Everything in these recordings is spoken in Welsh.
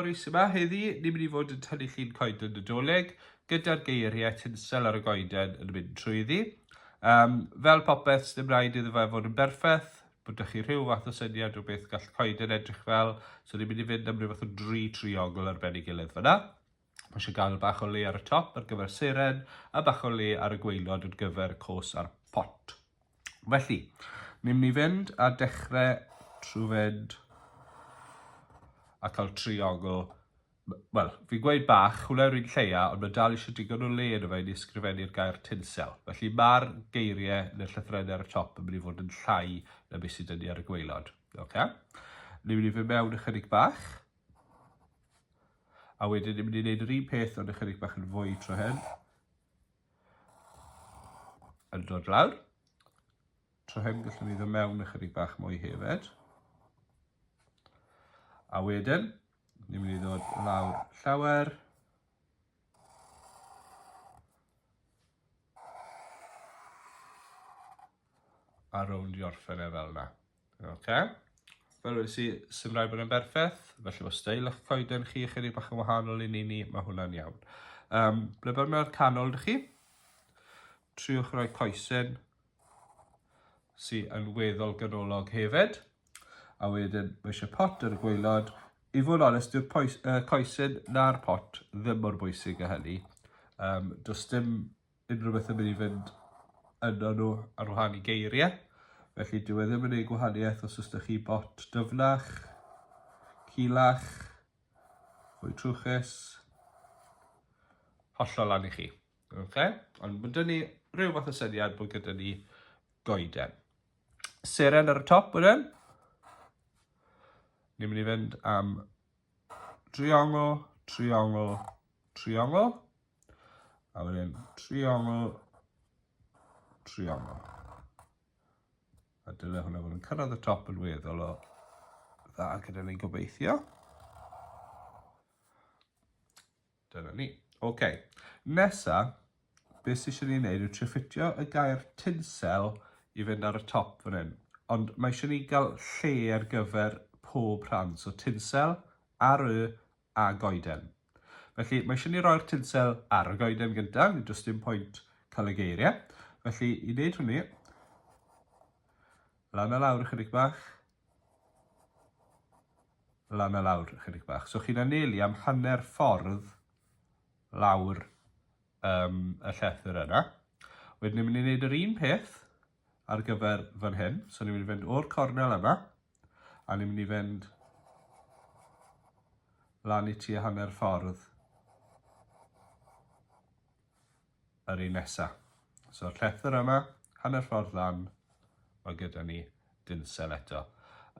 Morris yma heddi, ni'n mynd i fod yn tynnu llun coeden Nadolig gyda'r geiriau tinsel ar y goeden yn mynd trwyddi. Um, fel popeth, ddim rhaid iddo fe fod yn berffaith, bod ydych chi rhyw fath o syniad o beth gall coeden edrych fel, so ni'n mynd i fynd am rhyw fath o dri triongl ar ben ei gilydd fyna. Mae eisiau gael bach o le ar y top ar gyfer seren a bach o le ar y gweilod ar gyfer y cos a'r pot. Felly, ni'n mynd i fynd a dechrau trwy fynd a cael triogl. Wel, fi'n gweud bach, hwnna yw'r un lleia, ond mae dal eisiau digon o le yn y fe i ni ysgrifennu'r gair tinsel. Felly mae'r geiriau neu'r llythrenau ar y top yn mynd i fod yn llai na beth sydd ni ar y gweilod. Okay? Ni'n mynd i fynd mewn ychydig bach. A wedyn ni'n mynd i wneud yr un peth ond ychydig bach yn fwy tro hyn. Yn dod lawr. Tro hyn gallwn ni ddod mewn ychydig bach mwy hefyd. A wedyn, ni'n mynd i ddod lawr llawer. A rowndio orffen e fel yna. Oce. Fel wedi si, sy'n rhaid bod yn berffeth, felly mae stael eich coeden chi chydig bach yn wahanol i ni ni, mae hwnna'n iawn. Um, ble bod mewn canol dych chi? Triwch roi coesyn sy'n yn weddol ganolog hefyd. A wedyn, mae eisiau pot ar y gweilod. I fod yn onest, yw'r uh, coesyn na'r pot ddim mor bwysig a hynny. Um, does dim unrhyw beth yn mynd i fynd yno nhw ar wahân i geiriau. Felly dyw e ddim yn ei gwahaniaeth os ysdych chi bot dyfnach, cilach, fwy trwchus, hollol lan i chi. Okay? Ond mae dyn ni rhyw fath o syniad bod gyda ni goeden. Seren ar y top wedyn. Ni'n mynd i fynd am triongl, triongl, triongl, a wedyn triongl, triongl. A dyle hwnna fod yn cyrraedd y top yn weddol o dda gyda ni gobeithio. Dyna ni. Ok, nesa, beth sydd eisiau ni wneud yw treffittio y gair tinsel i fynd ar y top fan hyn. Ond mae eisiau ni gael lle ar gyfer pob rhan, so tinsel, ar y, a goeden. Felly mae eisiau ni roi'r tinsel ar y goeden gyntaf, ni does dim pwynt cael y geiriau. Felly i wneud hynny, lan a lawr ychydig bach, lan a lawr ychydig bach. So chi'n anelu am hanner ffordd lawr um, y llethr yna. Wedyn ni'n mynd i wneud yr un peth ar gyfer fan hyn. So ni'n mynd i fynd o'r cornel yma, a ni'n mynd i fynd lan i ti a hanner ffordd. yr un nesa. So llethr yma, hanner ffordd lan, mae gyda ni dinsel eto.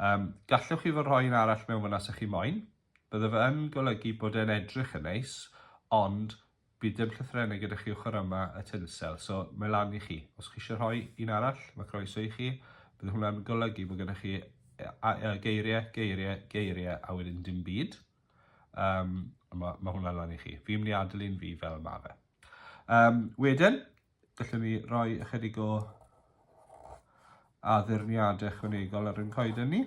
Um, gallwch chi fod rhoi un arall mewn fyna sy'ch chi moyn. Bydde fe yn golygu bod e'n edrych yn neis, ond bydd dim llythrenau gyda chi ochr yma y tinsel, so mae lan i chi. Os chi eisiau rhoi un arall, mae croeso i chi. Bydd hwnna'n golygu bod gyda chi geiriau, geiriau, geiriau, a wedyn dim byd. Um, mae, mae hwnna lan i chi. Fi'n mynd i adael un fi fel mae fe. Um, wedyn, gallwn ni roi ychydig o addurniadau ychwanegol ar ein coeden ni.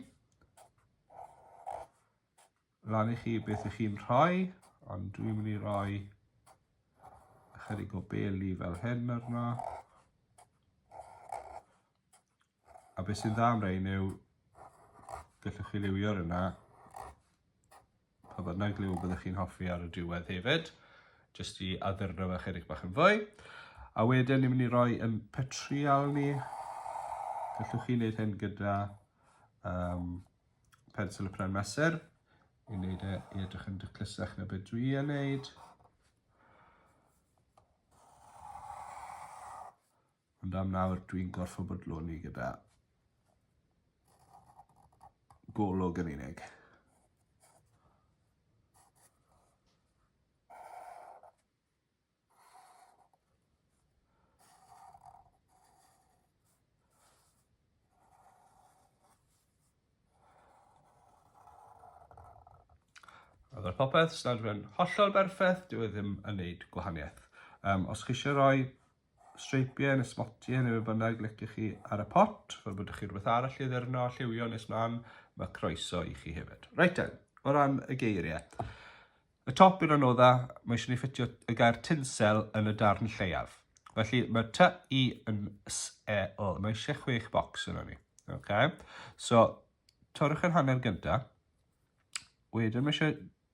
Lan i chi beth ych chi'n rhoi, ond dwi'n mynd i roi ychydig o beli fel hyn arno. A beth sy'n dda am rein yw gallwch chi liwio'r yna pa bynnag liw byddwch chi'n hoffi ar y diwedd hefyd, jyst i addurno fe chydig bach yn fwy. A wedyn ni'n mynd i roi yn petrial ni, gallwch chi wneud hyn gyda um, pensel y pren mesur, i wneud e i edrych yn dyclusach na beth dwi yn wneud. Ond am nawr dwi'n gorfod bodloni gyda golwg yn unig. A fel popeth, snadwrn hollol berffaith, dyw e ddim yn neud gwahaniaeth. Um, os chi eisiau rhoi streipiau neu smotiau neu be bynnag liciwch chi ar y pot. Fel bod chi rhywbeth arall i ddyrno a lliwio nes mlaen, mae croeso i chi hefyd. Reit te, o ran y geiriau. Y top yn anodda, mae eisiau ni ffitio y gair tinsel yn y darn lleiaf. Felly mae ty i yn s e o. Mae eisiau chwech bocs yna ni. Okay. So, torrwch yn hanner gyda. Wedyn mae eisiau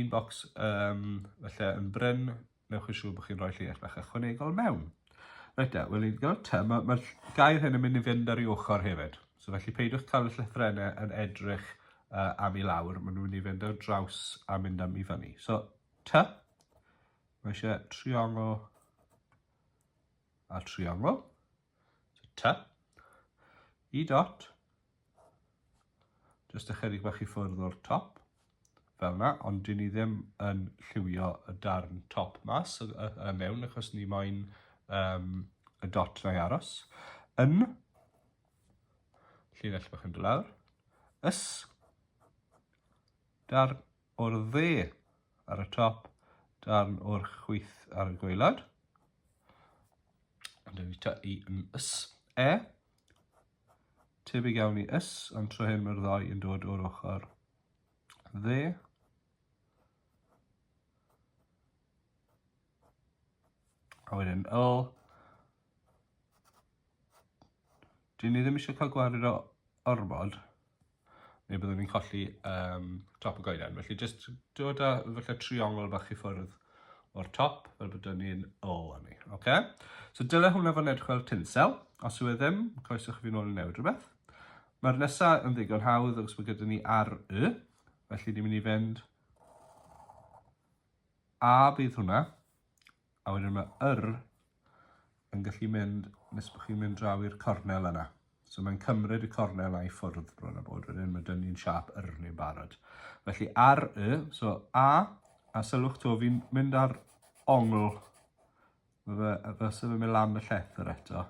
Un bocs um, felly yn bryn, newch yn siŵr bod chi'n rhoi llinell bach ychwanegol mewn. Rhaid da, wel ni'n gael ta, mae'r ma gair hyn yn mynd i fynd ar ei ochr hefyd. So felly peidiwch cael y llythrennau yn edrych uh, am i lawr, maen nhw'n mynd i fynd ar draws a mynd am i fyny. So, ta, mae eisiau triongl a triongl. So, ta, i dot, Jyst ychydig bach i ffwrdd o'r top, fel yna, ond dyn ni ddim yn lliwio y darn top mas y, y, y mewn, achos ni moyn um, y dot na i aros. Yn, llinell bach yn dod lawr, ys, darn o'r dde ar y top, darn o'r chwyth ar y gweilad. Ond yn ni ta i yn ys, e, Tebyg iawn i ys, ond tro hyn mae'r ddau yn dod o'r ochr dde. A wedyn yl. Dyn ni ddim eisiau cael gwared o ormod. neu byddwn ni'n colli um, top y goeden. Felly jyst dod â falle triongl bach i ffwrdd o'r top, fel bod ni'n o ni. Okay? So dyle hwnna fod yn edrych fel tinsel. Os yw e ddim, croeso chi fi'n ôl i newid rhywbeth. Mae'r nesaf yn ddigon hawdd os mae gyda ni ar y. Felly ni'n mynd i fynd a bydd hwnna A wedyn mae yr yn gallu mynd nes bod chi'n mynd draw i'r cornel yna. So mae'n cymryd y cornel a'i ffwrdd bron a bod wedyn, mae dyn ni'n siap yr ni'n barod. Felly ar y, so A, a sylwch to, fi'n mynd ar ongl, mae fe, fe sef yn mynd lan y llethr eto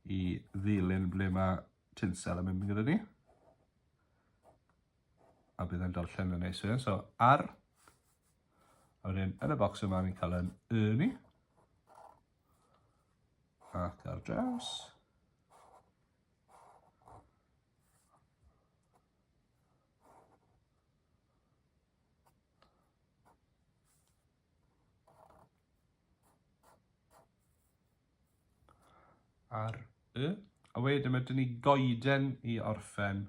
i ddilyn ble mae tinsel yn mynd gyda ni. a bydd e'n darllen yn neis wedyn. So, ar. A wedyn, yn y bocs yma, ni'n cael yn y ni. Ac ar draws. Ar y. A wedyn, mae dyn ni goeden i orffen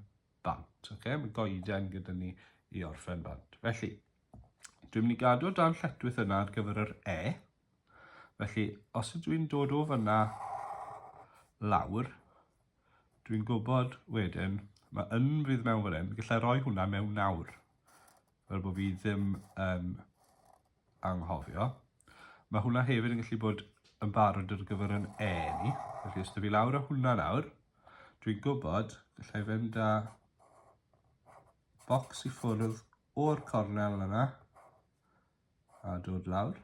bant. Okay? Mae goeden gyda ni i orffen bant. Felly, dwi'n mynd i gadw dan lletwyth yna ar gyfer yr E. Felly, os ydw i'n dod o fyna lawr, dwi'n gwybod wedyn, mae yn fydd mewn fan hyn, gallai roi hwnna mewn nawr, fel bod fi ddim yn anghofio. Mae hwnna hefyd yn gallu bod yn barod ar gyfer yn e ni. Felly os da fi lawr o hwnna nawr, dwi'n gwybod gallai fynd â bocs i ffwrdd o'r cornel yna a dod lawr.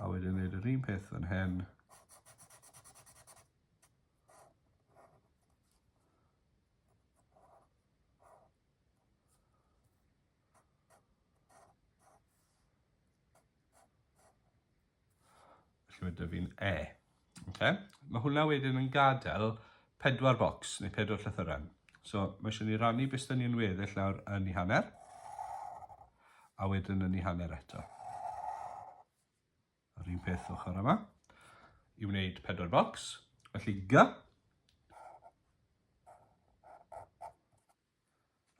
A wedyn wneud yr un peth fan hyn. Felly mae fi'n E. Okay? Mae hwnna wedyn yn gadael pedwar bocs neu pedwar llythyren. So mae eisiau ni rannu beth dyn ni'n weddill nawr yn ei hanner a wedyn yn ei hanner eto. Yr un peth ochr yma i wneud pedwar bocs. Felly G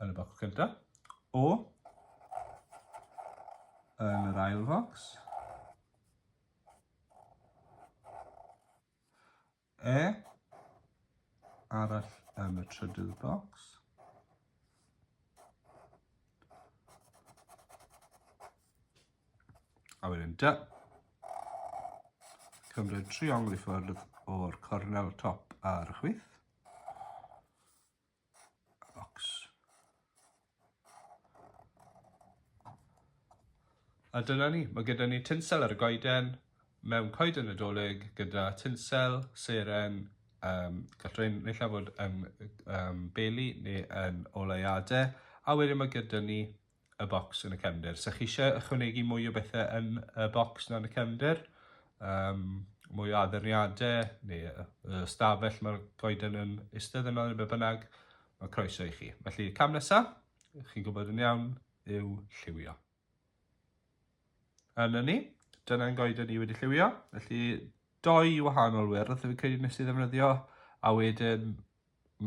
yn y bocs gyntaf, O yn yr ail focs, E arall yn y trydydd bocs, a wedyn dy. Cymryd triongl i ffwrdd o'r cornel top ar y chwith. Box. A dyna ni, mae gyda ni tinsel ar y goeden, mewn coeden nadolig gyda tinsel, seren, um, gall rhain neu llawn fod yn um, beli neu yn oleuadau, a wedyn mae gyda ni y bocs yn y cefndir. Sa chi eisiau ychwanegu mwy o bethau yn y bocs na yn y cefndir, um, mwy o addurniadau neu y stafell mae'r goeden yn eistedd yno neu be bynnag, mae croeso i chi. Felly cam nesaf, chi'n gwybod yn iawn, yw lliwio. Yn ni, dyna'n goeden ni wedi lliwio, felly doi wahanol wyrdd, fi'n credu nes i ddefnyddio, a wedyn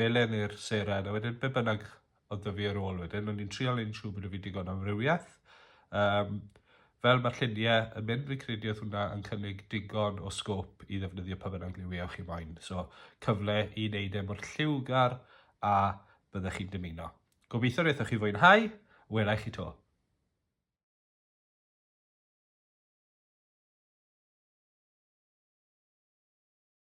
melyn i'r seren, a wedyn be bynnag oedd 'da fi ar ôl wedyn, o'n i'n trial un siŵr bod 'da fi digon o amrywiaeth. Um, fel mae'r lluniau yn mynd, fi'n credu oedd hwnna yn cynnig digon o sgôp i ddefnyddio pa bynnag liwiau chi moyn. So, cyfle i wneud e mor lliwgar a byddech chi'n dymuno. Gobeithio wnaethoch chi fwynhau, welai chi to.